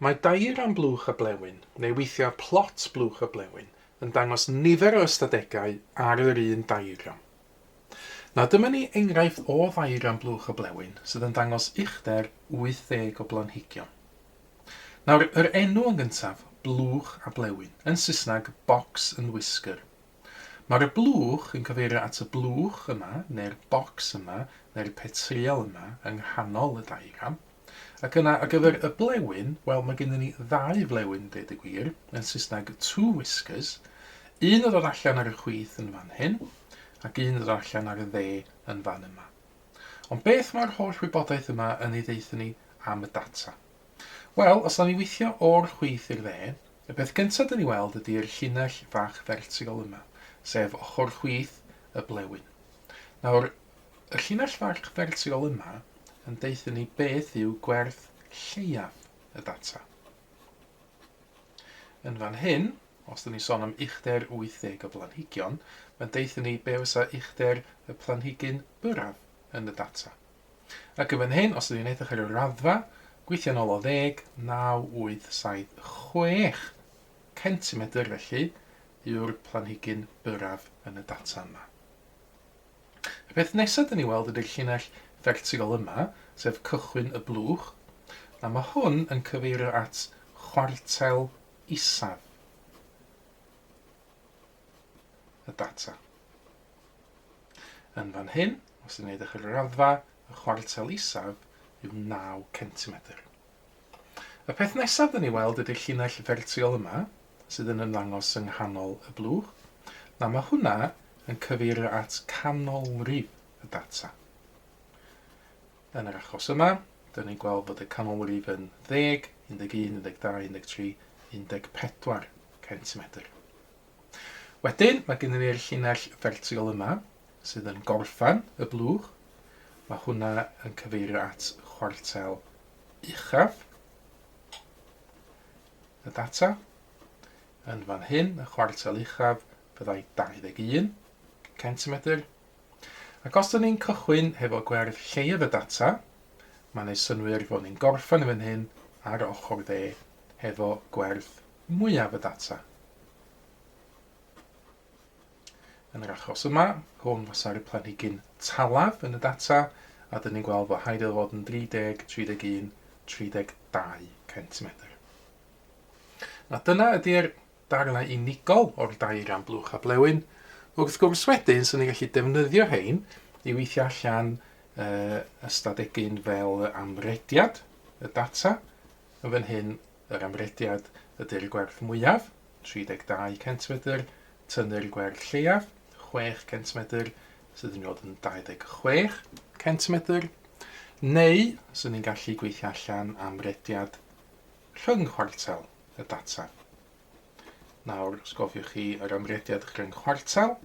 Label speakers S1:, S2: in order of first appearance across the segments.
S1: Mae diagram blwch y blewyn, neu weithiau plot blwch y blewyn, yn dangos nifer o ystadegau ar yr un diagram. Nawr dyma ni enghraifft o ddiagram blwch y blewyn sydd yn dangos uchder 80 o blanhigion. Nawr, yr enw yn gyntaf, blwch a blewyn, yn Saesneg box and whisker, Mae'r y blwch yn cyfeirio at y blwch yma, neu'r bocs yma, neu'r petriol yma, yng nghanol y diagram. Ac yna, ar gyfer y blewyn, wel, mae gennym ni ddau flewyn, dweud y gwir, yn Saesneg two whiskers, un yn dod allan ar y chwith yn fan hyn, ac un yn dod allan ar y dde yn fan yma. Ond beth mae'r holl wybodaeth yma yn ei ddeutha ni am y data? Wel, os 'na ni withio o'r chwith i'r dde, y peth gynta' 'da ni weld ydi'r llinell fach fertigol yma, sef ochr chwith y blewyn. Nawr, y llinell fach fertigol yma yn deutha ni beth yw gwerth lleiaf y data. Yn fan hyn, os 'da ni sôn am uchder 80 o blanhigion, mae'n deutha ni be fysa uchder y planhigyn byrraf yn y data. Ac yn fan hyn, os ydw i'n edrych ar y raddfa, gweithio yn ôl o ddeg, naw, wyth, saith, chwech centimedr felly yw'r planhigyn byrraf yn y data yma. Y peth nesaf dyn ni weld ydy'r llinell fertigol yma, sef cychwyn y blwch, a mae hwn yn cyfeirio at chwartel isaf. y data. Yn fan hyn, os ydyn ni'n edrych ar y raddfa, y chwartel isaf yw 9 centimetr. Y peth nesaf dyn ni weld ydy'r llinell fertiol yma, sydd yn ymddangos yng nghanol y blwch. Na, mae hwnna yn cyfeirio at canolrif y data. Yn yr achos yma, dyn ni'n gweld bod y canolrif yn ddeg, undeg un, undeg dau, undeg tri, undeg pedwar centimetr. Wedyn, mae gennym ni'r llinell fertigol yma, sydd yn gorffen y blwch. Mae hwnna yn cyfeirio at chwartel uchaf y data. Yn fan hyn, y chwartel uchaf, byddai 21 centimetr. Ac os dyn ni'n cychwyn hefo gwerth lleiaf y data, mae'n ei synwyr fod ni'n gorffen yn fan hyn ar ochr dde hefo gwerth mwyaf y data. Yn yr achos yma, hwn fasa'r planhigyn talaf yn y data, a dyn ni'n gweld fod haid iddo fod yn 30, 31, 32 cm. A dyna ydy'r darnau unigol o'r dair ran blwch a blewyn. Wrth gwrs wedyn, sy'n ni'n gallu defnyddio hein i weithio allan uh, ystadegyn fel amrediad y data. Yn fan hyn, yr amrediad ydy'r gwerth mwyaf, 32 centimedr, tynnu'r gwerth lleiaf, 6 centimedr, sydd yn nod yn 26 centimedr, neu sy'n ni'n gallu gweithio allan amrediad rhyng-chwartel y data. Nawr, os gofiwch chi yr amrediad rhyng-chwartel,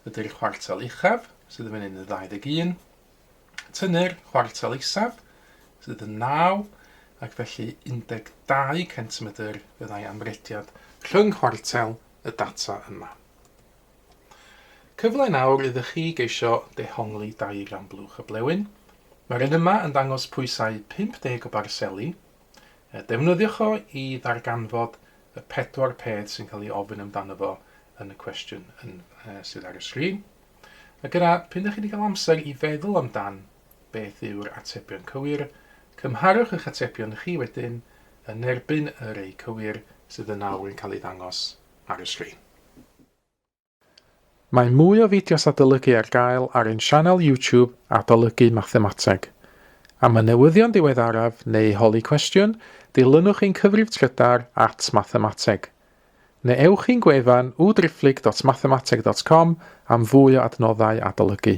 S1: ydy'r chwartel uchaf, sydd yn fyny'n 21, tynnu'r chwartel isaf, sydd yn 9, ac felly 12 centimedr fyddai amrediad rhyng-chwartel y data yma. Cyfle nawr ydych chi geisio dehongli dair amblwch y blewyn. Mae'r un yma yn dangos pwysau 50 o barseli Defnyddiwch o i ddarganfod y pedwar peth sy'n cael ei ofyn amdano fo yn y cwestiwn yn, uh, sydd ar y sgrin. Ac yna, pyn ydych chi wedi cael amser i feddwl amdan beth yw'r atebion cywir, cymharwch eich atebion chi wedyn yn erbyn y rei cywir sydd yn awr yn cael ei ddangos ar y sgrin. Mae mwy o fideos adolygu ar gael ar ein sianel YouTube Adolygu Mathemateg. Am y newyddion diweddaraf neu holi cwestiwn, dilynwch ein cyfrif trydar at Mathemateg. Neu ewch i'n gwefan www.driphlyg.mathemateg.com am fwy o adnoddau adolygu.